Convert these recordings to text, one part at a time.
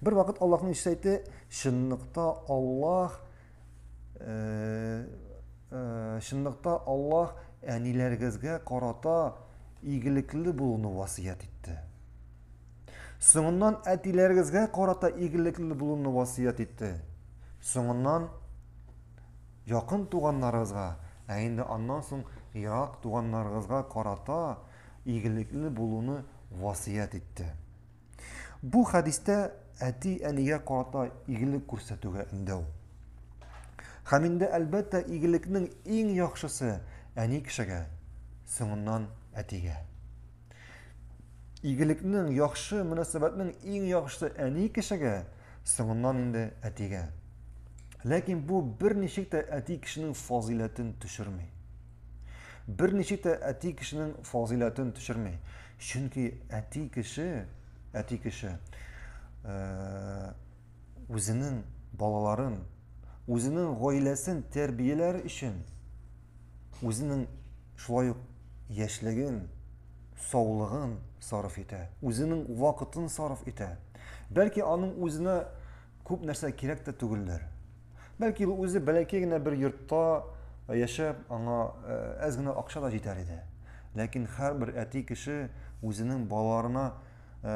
Бер вакыт Аллаһның ишәйте чынлыкта Аллаһ э, э, чынлыкта Аллаһ әниләрегезгә карата игелекле булуны васыят итте. Соңыннан әтиләрегезгә карата игелекле булуны васыят итте. Соңыннан якын туганнарыгызга, ә инде аннан соң ерак туганнарыгызга карата игелекле булуны васыят итте. Бу хәдистә әти-әнигә карата игелек күрсәтүгә өндәү. Һәм инде әлбәттә игелекнең иң яхшысы әни кешегә, соңыннан әтигә. Игелекнең яхшы мөнәсәбәтнең иң яхшысы әни кешегә, соңыннан инде әтигә. Ләкин бу берничек тә әти кешенең фазыйләтен төшерми. Берничек тә әти кешенең фазыйләтен төшерми. Чөнки әти кеше, әти кеше үзенең балаларын, үзенең гаиләсен тәрбияләр өчен үзенең шулай ук яшьлеген, саулыгын сарыф итә, үзенең вакытын сарыф итә. Бәлки аның үзенә күп нәрсә кирәк тә түгелдер. Бәлки ул үзе бәләкәй генә бер йортта э, яшәп, аңа э, әз генә акча да җитәр иде. Ләкин һәрбер әти кеше үзенең балаларына э,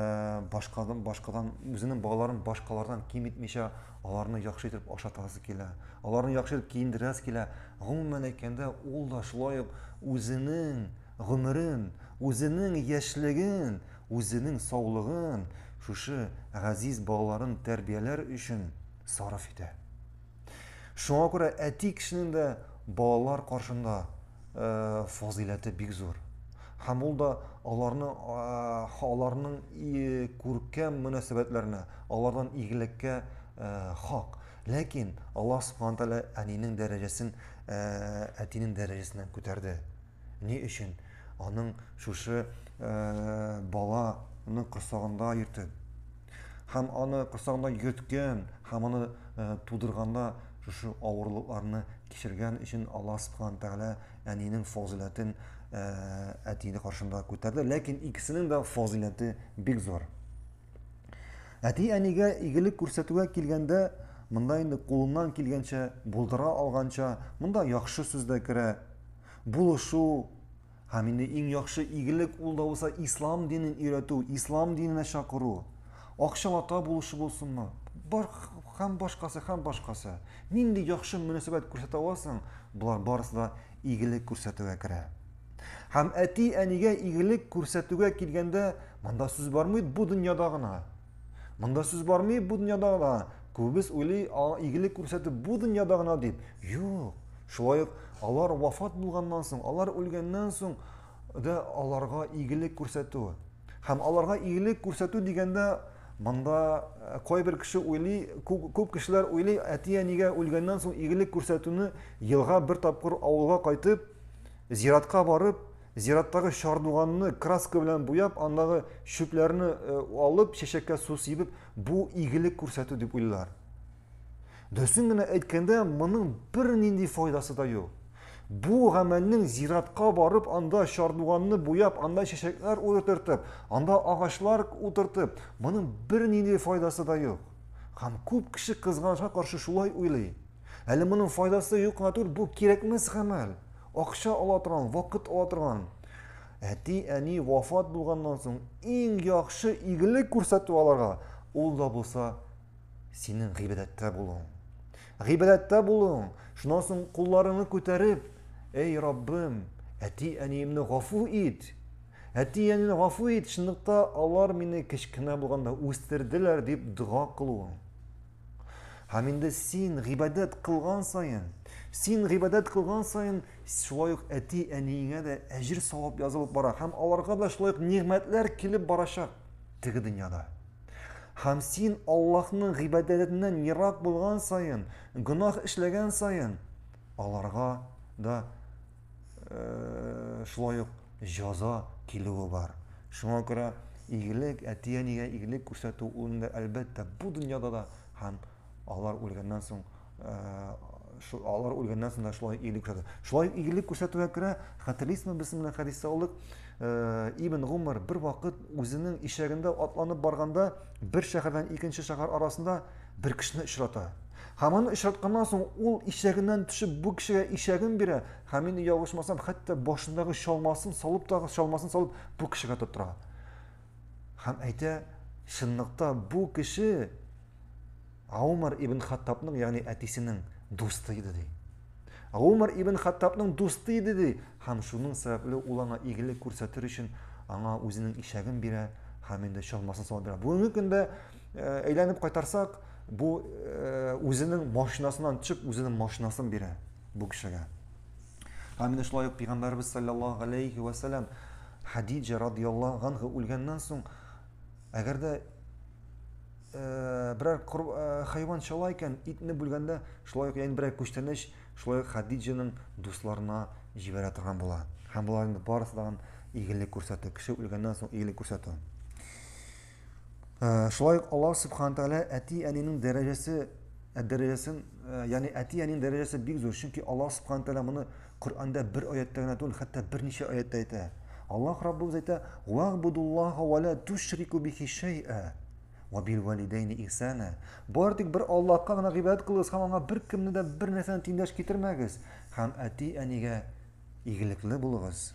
башкадан башкадан үзенең балаларын башкалардан ким итмичә, аларны яхшы итеп ашатасы килә, аларны яхшы итеп киендерәсе килә. Гомумән әйткәндә, ул да шулай ук үзенең гомерен, үзенең яшьлеген, үзенең саулыгын шушы газиз балаларын тәрбияләр өчен сарыф итә. Шуңа күрә әти кешенең дә балалар каршында э, фазыйләте бик зур. Һәм ул да аларны аларның күркәм мөнәсәбәтләренә, алардан игелеккә э, хак. Ләкин Аллаһ Субхану тәгалә әнинең дәрәҗәсен э, әтинең дәрәҗәсеннән күтәрде. Ни өчен аның шушы баланы корсагында йөртеп, һәм аны корсагында йөрткән, һәм аны тудырганда шушы авырлыкларны кичергән өчен Аллаһ Субхану Тәгалә әнинең фазиләтен әтине каршында күтәрде. Ләкин икесенең дә фазиләте бик зур. Әти әнигә игелек күрсәтүгә килгәндә, монда инде кулыннан килгәнчә, булдыра алганча, монда яхшы сүз дә керә, булышу һәм инде иң яхшы игелек ул да булса ислам динен өйрәтү ислам диненә чакыру акчалата булышы булсынмы бар һәм башкасы һәм башкасы нинди яхшы мөнәсәбәт күрсәтә аласың болар барысы да игелек күрсәтүгә керә һәм әти әнигә игелек күрсәтүгә килгәндә монда сүз бармый бу дөньяда гына Монда сүз бармый бу дөньяда гына. Күбез уйлый, аңа игелек күрсәтү бу дөньяда гына дип. Юк. Шулай ук алар вафат булганнан соң, алар үлгәннән соң да аларга игелек күрсәтү. Һәм аларга игелек күрсәтү дигәндә монда э, кайбер кеше уйлый, күп, күп кешеләр уйлый, әти-әнигә үлгәннән соң игелек күрсәтүне елга бер тапкыр авылга кайтып, зиратка барып, Зираттагы чардуганны краска белән буяп, андагы чүпләрне э, алып, чәчәккә су сибеп, бу игелек күрсәтү дип уйлар. Дөресен генә әйткәндә, моның бернинди файдасы да юк. Бу гамәлнең зиратка барып, анда чардуганны буяп, анда чәчәкләр утыртып, анда агачлар утыртып, моның бернинди файдасы да юк. Һәм күп кеше кызганычка каршы шулай уйлый. Әле моның файдасы юк кына түгел, бу кирәкмәс гамәл. Акча ала торган, вакыт ала торган. Әти, әни вафат булганнан соң иң яхшы игелек күрсәтү аларга. Ул да булса синең гыйбадәттә булуың. Гыйбадәттә булуың. Шуннан соң кулларыңны күтәреп, "Эй, Раббым, әти, әниемне гафу ит. Әти, әнине гафу ит, чынлыкта алар мине кечкенә булганда үстерделәр", дип дога кылуың. Һәм инде син гыйбадәт кылган саен, син гыйбадәт кылган саен, шулай ук әти-әниеңә дә әҗер савап язылып бара һәм аларга да шулай ук нигъмәтләр килеп барачак теге дөньяда. Һәм син Аллаһның гыйбадәтеннән ерак булган саен, гөнаһ эшләгән саен, аларга да шулай ук җаза килүе бар. Шуңа күрә игелек, әти-әнигә игелек күрсәтү ул инде әлбәттә бу дөньяда да һәм алар үлгәннән соң э, алар үлгәннән соң да шулай игелек күрсәтү. Шулай ук игелек күрсәтүгә керә, хәтерлисезме без менә хәдистә алдык, э, Ибн Гумар бер вакыт үзенең ишәгендә атланып барганда, бер шәһәрдән икенче шәһәр арасында Бер кешене очрата. Һәм аны очратканнан соң ул ишәгеннән төшеп бу кешегә ишәген бирә һәм мин ялгышмасам хәтта башындагы чалмасын салып тагы чалмасын салып бу кешегә тоттыра. Һәм әйтә, чынлыкта бу кеше Аумар ибн Хаттабның, ягъни әтисенең дусты иде ди. Аумар ибн Хаттабның дусты иде ди, һәм шуның сәбәпле ул аңа игелек күрсәтер өчен аңа үзенең ишәген бирә һәм инде чалмасын салып бирә. Бүгенге көндә Э, әйләнеп кайтарсак, бу э, үзенең машинасыннан төшеп, үзенең машинасын бирә бу кешегә. Һәм менә шулай ук пәйгамбәрбез саллаллаһу алейхи ва саллям Хадиҗа радиллаһу анха үлгәннән соң, әгәр дә э, берәр хайван чала икән, итне бүлгәндә, шулай ук яңа берәр күчтәнәч, шулай ук Хадиҗаның дусларына җибәрә торган була. Һәм боларның барысы да игелек күрсәтә, кеше үлгәннән соң игелек күрсәтә. Шулай ук Аллаһ Субхаһу Тәгалә әти-әнинең дәрәҗәсе ә дәрәҗәсен, ә, ягъни әти-әнинең дәрәҗәсе бик зур, чөнки Аллаһ Субхаһу Тәгалә моны Коръәндә бер аятьтә генә түгел, хәтта берничә аятьтә әйтә. Аллаһ Раббыбыз әйтә: "Вагъбудуллаһа ва ла тушрику бихи шәйъа ва бил валидәйни ихсана". Бары тик бер Аллаһка гына гыйбадәт кылыгыз һәм аңа бер кемне дә бер нәрсәне тиңдәш китермәгез һәм әти-әнигә игелекле булыгыз.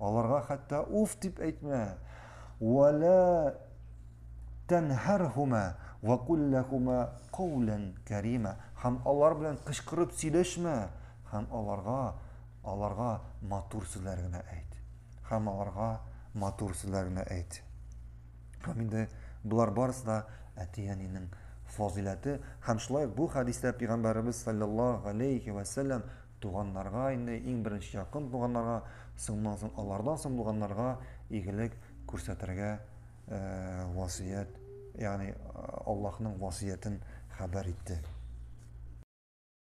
Аларга хәтта уф дип әйтмә. Вәлә тәнһәрһүмә вә кулләһүмә каулән кәримә. Һәм алар белән кычкырып сөйләшмә. Һәм аларга, аларга матур сүзләр генә әйт. Һәм аларга матур сүзләр генә әйт. Һәм инде болар барысы да әти-әнинең фазыйләте. Һәм шулай бу хәдистә пәйгамбәребез саллаллаһу алейхи ва саллям Туганнарга инде иң беренче якын туганнарга, соңнан соң алардан соң булганнарга игелек күрсәтергә васыять, ягъни Аллаһның васыятен хәбәр итте.